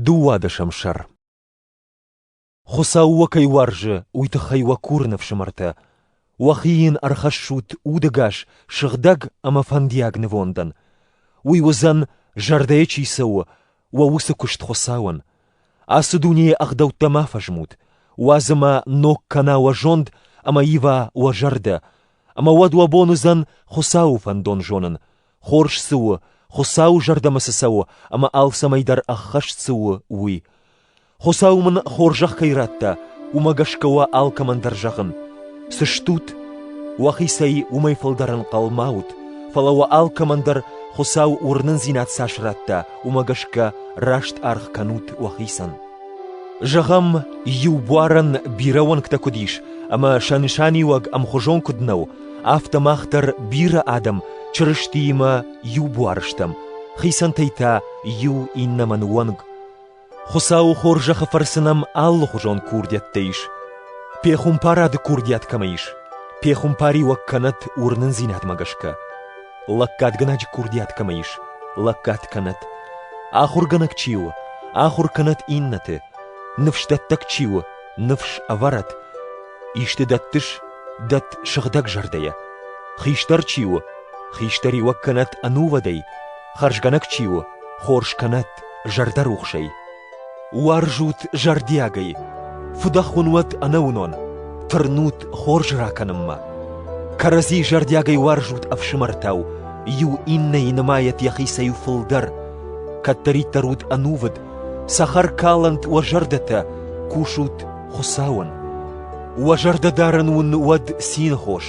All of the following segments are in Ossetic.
Дыууадӕсӕм сӕр Хуыцау уӕ кӕй уарзы, уый тыххӕй уӕ курын, ӕфсымӕртӕ, уӕхи йын ӕрхӕссут удӕгас, сыгъдӕг ӕмӕ фӕндиаг нывондӕн. Уый уыдзӕн, зӕрдӕйы чи цӕуы, уӕ уыцы куыст Хуыцауӕн. Ацы дунейы ӕгъдӕуттӕ ма фӕзмут, уадзы ма ног кӕна уӕ зонд ӕмӕ ива уӕ зӕрдӕ, ӕмӕ уӕд уӕ бон уыдзӕн Хуыцауы фӕндон зонын, хорз цы у, Хуыцауы зӕрдӕмӕ цы цӕуы ӕмӕ алцӕмӕй дӕр ӕххӕст цы у, уый. Хуыцау мын хорзӕх кӕй радта, уымӕ гӕсгӕ уӕ алкӕмӕн дӕр зӕгъын: цы стут, уӕхицӕй уымӕй фылдӕр ӕнхъӕлмӕ ут, фӕлӕ уӕ алкӕмӕн дӕр Хуыцау уырнындзинад цас радта, уымӕ гӕсгӕ раст аргъ кӕнут уӕхицӕн. Зӕгъӕм, иу буарӕн бирӕ уӕнгтӕ куыд ис, ӕмӕ сӕ нысаниуӕг ӕмхуызон куыд нӕу, Афтӕ мах дӕр бирӕ адӕм Чырыстиимӕ иу буар стӕм, хицӕнтӕй та иу иннӕмӕн уӕнг. Хуыцауы хорзӕхы фӕрцы нӕм алыхуызон курдиӕттӕ ис. Пехуымпарады курдиат кӕмӕ ис, пехуымпариуӕг кӕнӕт уырнындзинадмӕ гӕсгӕ. Лӕггадгӕнӕджы курдиат кӕмӕ ис, лӕггад кӕнӕт. Ахуыргӕнӕг чи у, ахуыр кӕнӕт иннӕты. Ныфсдӕттӕг чи у, Ныфс ӕвӕрӕд, исты дӕттыс, дӕтт сыгъдӕг зӕрдӕйӕ. Хистӕр чи у, хистӕриуӕг кӕнӕд ӕнувыдӕй, хӕрзгӕнӕг чи у, хорз кӕнӕд зӕрдӕрухсӕй. Уарзут зӕрдиагӕй, фыдӕхуын уӕд ӕнӕуынон, тырнут хорз ракӕнынмӕ. Кӕрӕдзи зӕрдиагӕй уарзут ӕфсымӕртау, иу иннӕйы нымайӕт йӕхицӕй фылдӕр, кӕддӕриддӕр ут ӕнувыд Цӕхӕркалӕнт уӕ зӕрдӕтӕ, кусут Хуыцауӕн. Уӕ зӕрдӕдарӕн уын уӕд цинхос,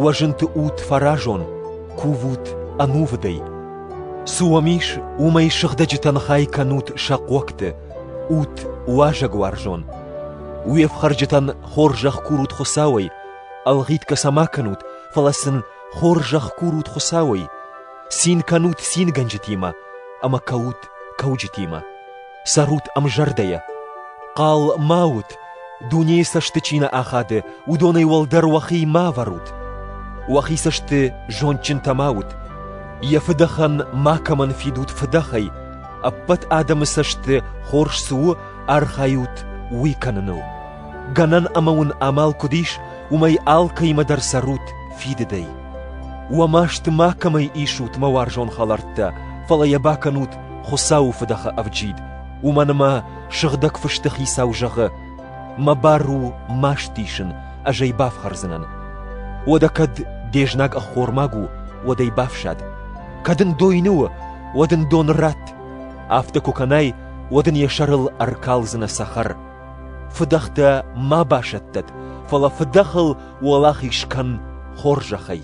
уӕ зынты ут фӕразон, кувут ӕнувыдӕй. Цы уӕм ис, уымӕй сыгъдӕджытӕн хай кӕнут сӕ хъогты, ут уазӕгуарзон. Уе фхӕрджытӕн хорзӕх курут Хуыцауӕй, ӕлгъитгӕ сӕ ма кӕнут, фӕлӕ сын хорзӕх курут Хуыцауӕй. Цин кӕнут цингӕнджытимӕ ӕмӕ кӕут кӕуджытимӕ, цӕрут ӕмзӕрдӕйӕ. Хъал ма ут, дунейы цӕсты чи нӕ ахады, уыдонӕй уӕлдӕр уӕхи ма ӕвӕрут. Уӕхи цӕсты зондджынтӕ ма ут, йӕ фыдӕхӕн макӕмӕн фидут фыдӕхӕй, ӕппӕт адӕмы цӕсты хорз цы у, архайут уый кӕныныл. Гӕнӕн ӕмӕ уын амал куыд ис, уымӕй алкӕимӕ дӕр цӕрут фидыдӕй. Уӕ маст макӕмӕй исут, мӕ уарзон хӕлӕрттӕ, фӕлӕ йӕ бакӕнут Хуыцауы фыдӕхы ӕвджид. Уымӕн ӕмӕ Сыгъдӕг Фысты Хицау зӕгъы: «Мӕ бар у маст исын, ӕз ӕй бафхӕрдзынӕн. Уӕдӕ кӕд де знаг ӕххормаг у, уӕд ӕй бафсӕд. Кӕд ын дойны у, уӕд ын дон ратт. Афтӕ куы кӕнай, уӕд ын йӕ сӕрыл ӕркалдзынӕ цӕхӕр. Фыдӕхтӕ ма басӕттӕд, фӕлӕ фыдӕхыл уӕлахиз кӕн хорзӕхӕй.